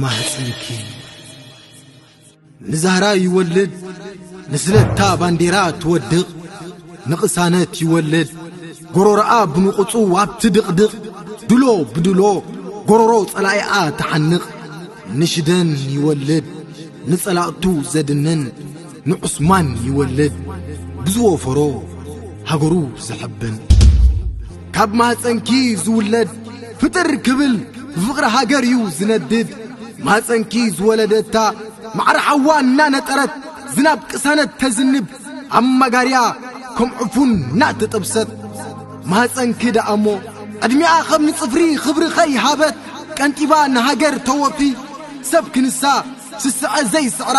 ማህፀንኪ ንዛህራ ይወልድ ንስለታ ባንዴራ ትወድቕ ንቕሳነት ይወልድ ጎሮሮኣ ብንቑፁ ኣብቲ ድቕድቕ ድሎ ብድሎ ጎሮሮ ጸላኢኣ ትሓንቕ ንሽደን ይወልድ ንጸላእቱ ዘድንን ንዑስማን ይወልድ ብዝወፈሮ ሃገሩ ዝሕብን ካብ ማፀንኪ ዝውለድ ፍጥር ክብል ብፍቕሪ ሃገር እዩ ዝነድድ ማፀንኪ ዝወለደታ ማዕረ ሓዋ እናነጠረት ዝናብ ቅሳነት ተዝንብ ኣብ ማጋርያ ከም ዕፉን እናተጠብሰት ማፀንኪ ደኣ እሞ ዕድሚኣ ኸም ንጽፍሪ ኽብሪ ኸይሃበት ቀንጢባ ንሃገር ተወፊ ሰብ ክንሳ ስስዐ ዘይስዕራ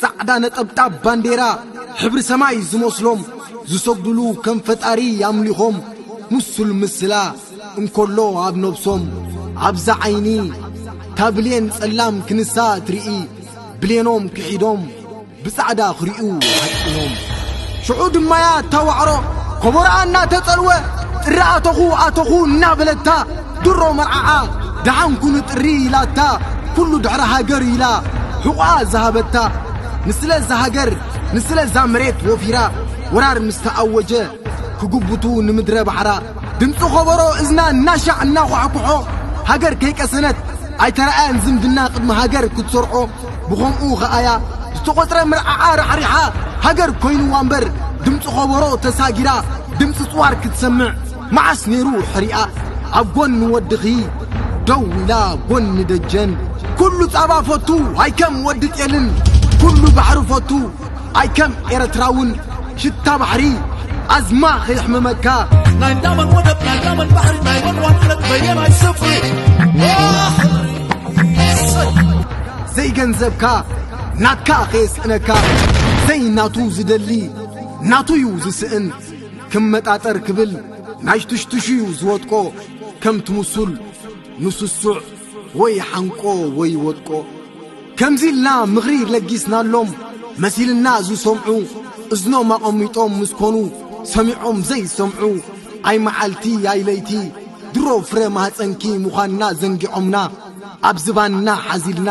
ጻዕዳ ነጠብጣብ ባንዴራ ሕብሪ ሰማይ ዝመስሎም ዝሰግድሉ ከም ፈጣሪ ኣምሊኾም ምሱል ምስላ እንከሎ ኣብ ነብሶም ኣብዛ ዓይኒ እታ ብሌን ጸላም ክንሳ እትርኢ ብሌኖም ክሒዶም ብጻዕዳ ክሪኡ ሃጢኖም ሽዑ ድማያ እታ ዋዕሮ ኮቦርኣ እናተጸልወ ጥረ ኣተኹ ኣተኹ እናበለታ ድሮ መርዓኣ ደሓን ኩኑ ጥሪ ኢላታ ኩሉ ድሕሪ ሃገር ኢላ ሕቑኣ ዝሃበታ ንስለ እዛ ሃገር ንስለ እዛ መሬት ወፊራ ወራር ምስ ተኣወጀ ክጉብቱ ንምድረ ባሕራ ድምፂ ኸበሮ እዝና እናሻዕ እናኳሕኩሖ ሃገር ከይቀሰነት ኣይተረኣያን ዝምድና ቅድሚ ሃገር ክትሰርዖ ብኸምኡ ኸኣያ ዝተቖፅረ ምርዓዓ ራሕሪሓ ሃገር ኮይኑዋ እምበር ድምፂ ኸበሮ ተሳጊራ ድምፂ ፅዋር ክትሰምዕ መዓስ ነይሩ ሕሪኣ ኣብ ጎኒ ወድኺ ደው ኢላ ጎኒ ደጀን ኩሉ ጻባ ፈቱ ኣይከም ወዲ ጤልን ኩሉ ባሕሪ ፈቱ ኣይከም ኤረትራውን ሽታ ባሕሪ ኣዝማ ከየሕምመካ ናይ ላመን ወደብ ናይ ላመን ባሕሪ ናይ መን ዋንነት በየናይ ስፍሪ ዘይገንዘብካ ናትካ ከየስእነካ ዘይናቱ ዝደሊ ናቱዩ ዝስእን ክመጣጠር ክብል ናሽቱሽቱሽዩ ዝወጥቆ ከም ትምሱል ንስሱዕ ወይ ሓንቆ ወይ ወጥቆ ከምዚ ኢልና ምኽሪ ለጊስናሎም መሲልና ዝሰምዑ እዝኖም ኣቐሚጦም ምስ ኮኑ ሰሚዖም ዘይሰምዑ ኣይ መዓልቲ ኣይ ለይቲ ድሮ ፍረ ማህፀንኪ ምዃንና ዘንጊዖምና ኣብ ዝባንና ሓዚልና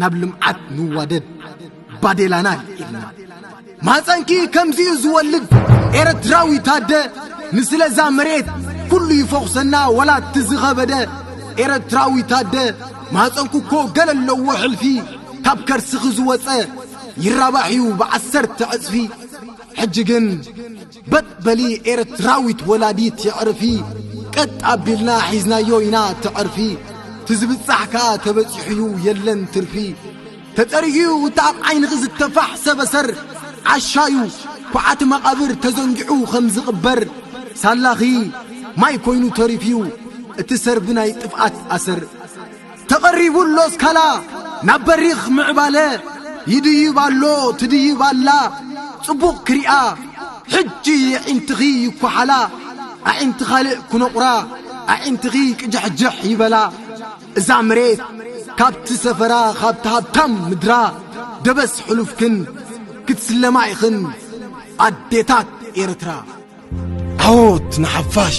ናብ ልምዓት ንዋደድ ባዴላና ኢልና ማፀንኪ ከምዚኡ ዝወልድ ኤረትራዊ ታደ ንስለዛ መሬት ኩሉ ይፈኹሰና ወላ እቲ ዝኸበደ ኤረትራዊ ታደ ማፀንኩ እኮ ገለ ኣለዎ ሕልፊ ካብ ከርስኺ ዝወፀ ይራባሕ እዩ ብዓሰርተ ዕፅፊ ሕጂ ግን በጥ በሊ ኤርትራዊት ወላዲት የዕርፊ ቀጥ ኣቢልና ሒዝናዮ ኢና ትዕርፊ ትዝብጻሕ ከኣ ተበጺሑዩ የለን ትርፊ ተጸሪጉዩ እቲ ኣብ ዓይንኺ ዝተፋሕ ሰበሰር ዓሻዩ ኩዓቲ መቓብር ተዘንጊዑ ኸም ዝቕበር ሳላኺ ማይ ኮይኑ ተሪፍዩ እቲ ሰርቢ ናይ ጥፍኣት ኣሰር ተቐሪቡ ኣሎ ስካላ ናብ በሪኽ ምዕባለ ይድይብ ኣሎ ትድይብ ኣላ ጽቡቕ ክሪኣ ሕጂ የዒንትኺ ይኳሓላ ኣዒንቲ ካልእ ክኖቑራ ኣዒንትኺ ቅጃሕጅሕ ይበላ እዛ መሬት ካብቲ ሰፈራ ካብቲ ሃብታም ምድራ ደበስ ሕሉፍክን ክትስለማ ኢኽን ኣዴታት ኤርትራ ዓወት ንሓፋሽ!